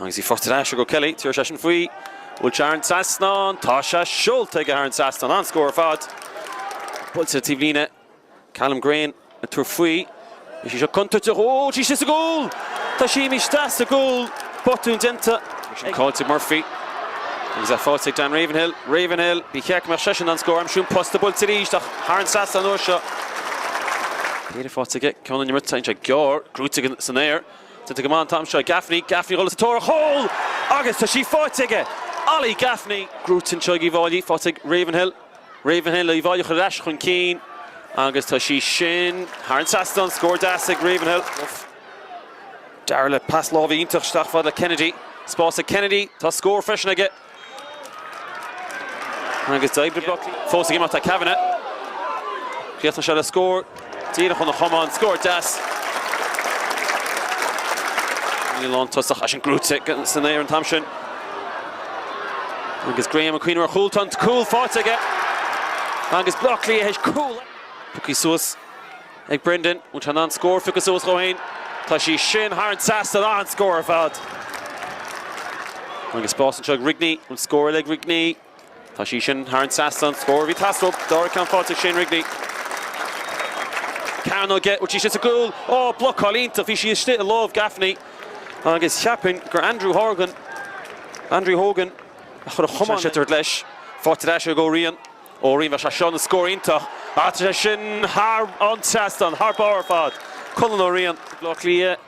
Agus í faighte ar ais ag O'Kelly, tabharfaidh seisean faoi. Bhfuil sé thar an trasnán? Tá sé seolta aige thar an trasnán. An-scór ar fad. Buailte ar taobh líne. Callum Green ag tabhairt faoi. Is í seo contúirteach. Tá sí sa gcúl! Tá sí imithe isteach sa gcúl. Botún déanta. Bhí sin caillte ag Murphy. Agus é faighte ag Dan Ravenhill. Ravenhill, ba cheart go mbeadh seisean in ann scór a aimsiú. An posta buailte arís ach thar an trasnán an uair seo. Péire faighte aige. Ceann ón imirt. Tá sé gearr. Gnóite san aer. Déanta go maith an t-am seo ag Gaffney. Gaffney ag dul sa tóir ar chúl! Agus tá sí faighte aige! Ollie Gaffney. Gnóite anseo ag Uíbh Fhailí. Faighte ag Ravenhill. Ravenhill, Uíbh Fhailí a chur ar ais chun cinn. Agus tá sí sin thar an trasnán. Scór deas ag Ravenhill. Darragh le pas láimhe iontach isteach fad le Kennedy. Spás ag Kennedy. Tá scór freisin aige. Agus d'oibrigh bloc fós ag imeacht le Kavanagh. Chríochnaigh sé le scór díreach óna chumann. Scór deas. An lántosach ansin, gnóite san aer an t-am sin. Agus Graham ag cuimhneamh ar chúl. Tá an cúl faighte aige. Agus Baile Átha Cliath théis cúl. Pioctha suas. ag Brendan. An bhfuil sé in ann scór a phiocadh suas dhó fhéin. Tá sí sin thar an trasnán, an-scór ar fad. Agus spás anseo ag Rigney. Bhfuil scór eile ag Rigney. Tá sí sin thar an trasnán, scór a bhí ag teastáil uathu. Dara ceann faighte ag Shane Rigney. Ceann aige. Bhfuil sí sin sa gcúl. Ó blocáil iontach. Bhí sí istigh i lámh Gaffney. Agus cheapfainn gur Andrew Horgan, Andrew Hogan, a chuir an camán ar an sliotar leis. Faighte ar ais ag Ó Riain. Ó Riain, bheadh sé seo ina scór iontach ach tá sé sin thar an trasnán, thar barr ar fad. Colin Ó Riain. Baile Átha Cliath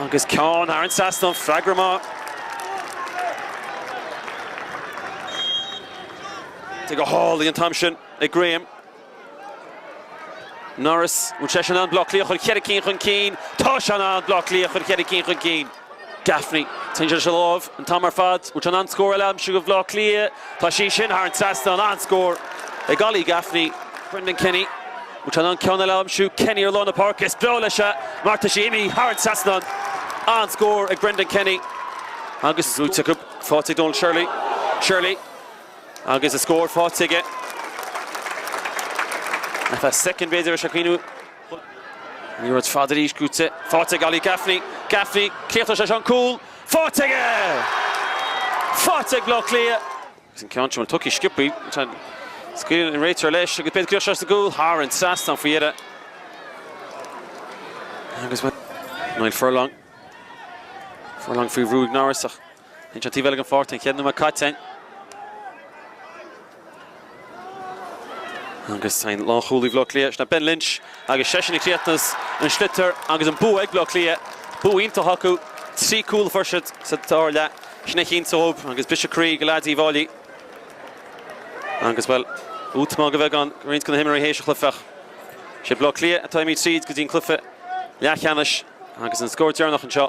agus ceann thar an trasnán, freagra maith. Tógtha go hálainn an t-am sin ag Graham. Norris, an bhfuil sé in ann Baile Átha Cliath a chur cheithre cinn chun cinn, tá sé in ann Baile Átha Cliath a chur cheithre cinn chun cinn. Gaffney. Téann sé leis an láimh an t-am ar fad. An bhfuil sé in ann scór eile a aimsiú do Bhaile Átha Cliath? Tá sí sin thar an trasnán. An-scór ag Ollie Gaffney. Brendan Kenny. An bhfuil sé in ann ceann eile a aimsiú? Kenny ar lár na páirce. Is breá leis é mar tá sí imithe thar an trasnán. An-scór ag Brendan Kenny. Agus í gnóite acu. Faighte ag Donal Shirley. Shirley. Agus an scór faighte aige. Ar feadh soicind b'fhéidir, bhí sé ag cuimhneamh. Liathróid fhada arís goitse faighte ag Ollie Gaffney. Gaffney, críochnóidh sé seo an cúl. Faighte aige! Faighte ag Baile Átha Cliath. Agus an ceann sin, bhuel, tógtha go sciobtha. Scaoileann an réiteoir leis agus beidh cleachtas as an gcúl thar an trasnán faoi dheireadh. Agus bhuel, Niall Furlong. Furlong faoi bhrú ag Norris ach Lynch ar an taobh eile den pháirc an ceathrú nóiméad caite agus sin é lánchúlaí Bhaile Átha Cliath, sin é Ben Lynch, agus seisean ag críochnú leis an sliotar agus an bua ag Baile Átha Cliath. Bua iontach acu, trí chúl a fuair siad sa dara leath, sin a chinntigh dóibh agus briseadh croí do leaids Uíbh Fháilí agus, bhuel, útamáil go beagán ag roinnt de na himreoirí théis an chluiche ach is iad Baile Átha Cliath atá ag imí tríd go dtí an cluiche leathcheannais agus an scór deireanach anseo.